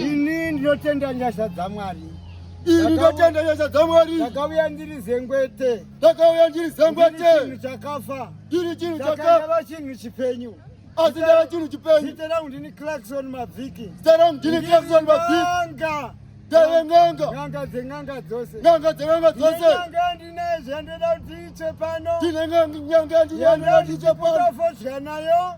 Ini ndinotenda nyasha dzaMwari. Ini ndinotenda nyasha dzaMwari. Ndakauya ndiri zengwete. Ndakauya ndiri zengwete. Ndiri chinhu chakafa. Ndiri chinhu chakafa. Ndakandava chinhu chipenyu. Asi ndava chinhu chipenyu. Zita rangu ndini Clarkson Mavhiki. Zita rangu ndini Clarkson Mavhiki. Ndanga. Ndave n'anga. N'anga dzen'anga dzose. N'anga dzen'anga dzose. Ndine n'anga ndine zvandoda kuti iche pano. Ndine n'anga ndine zvandoda kuti iche pano. Ndine n'anga ndine zvandoda kuti iche pano.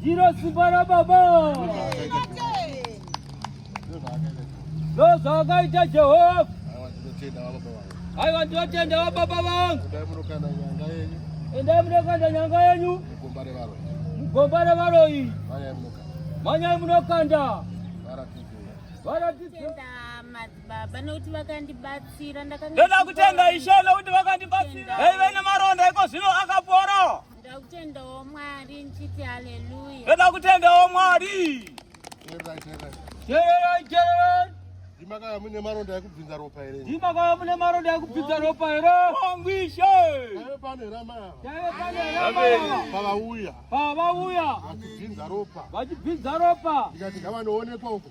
Ndiro simba rababa. Ndozvakaita Jehovha. Aiwa ndinotenda wababa vangu. Endai munokanda nyanga yenyu. Mugomba revaroyi. Manyai munokanda. Varatidze. Varatidze. baba nokuti vakandibatsira ndoda kutenda ishe nokuti vakandibatsira aive nemaronda iko zvino akapora ndoda kutendawo mwari ndichiti haleluya ndoda kutendawo mwari ndimakaya mune maronda ekubvinza ropa here ndimakaya mune maronda ekubvinza ropa here angwishe aive pane rama aive pane rama pavauya pavauya vachibvinza ropa vachibvinza ropa ndikati ngavanoonekwa uko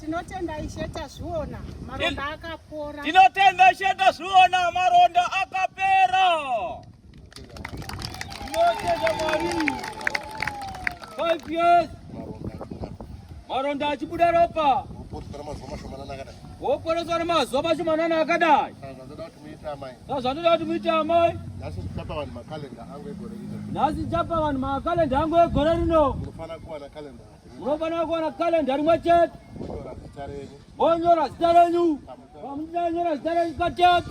Tinotenda Ishe tazviona maronda akapora. Tinotenda Ishe tazviona maronda akapera. Tinotenda Mwari. Five years. Maronda achibuda ropa. Woporeswa nemazuva mashomanana akadai. Woporeswa nemazuva mashomanana akadai. zvandinoda kuti muite amai nhasi ndichapa vanhu makalenda angu egore rino nhasi ndichapa vanhu makalenda angu egore rino munofanira kuwana kalenda munofanira kuwana kalenda rimwe chete monyora zita renyu pamunonyora zita renyu katatu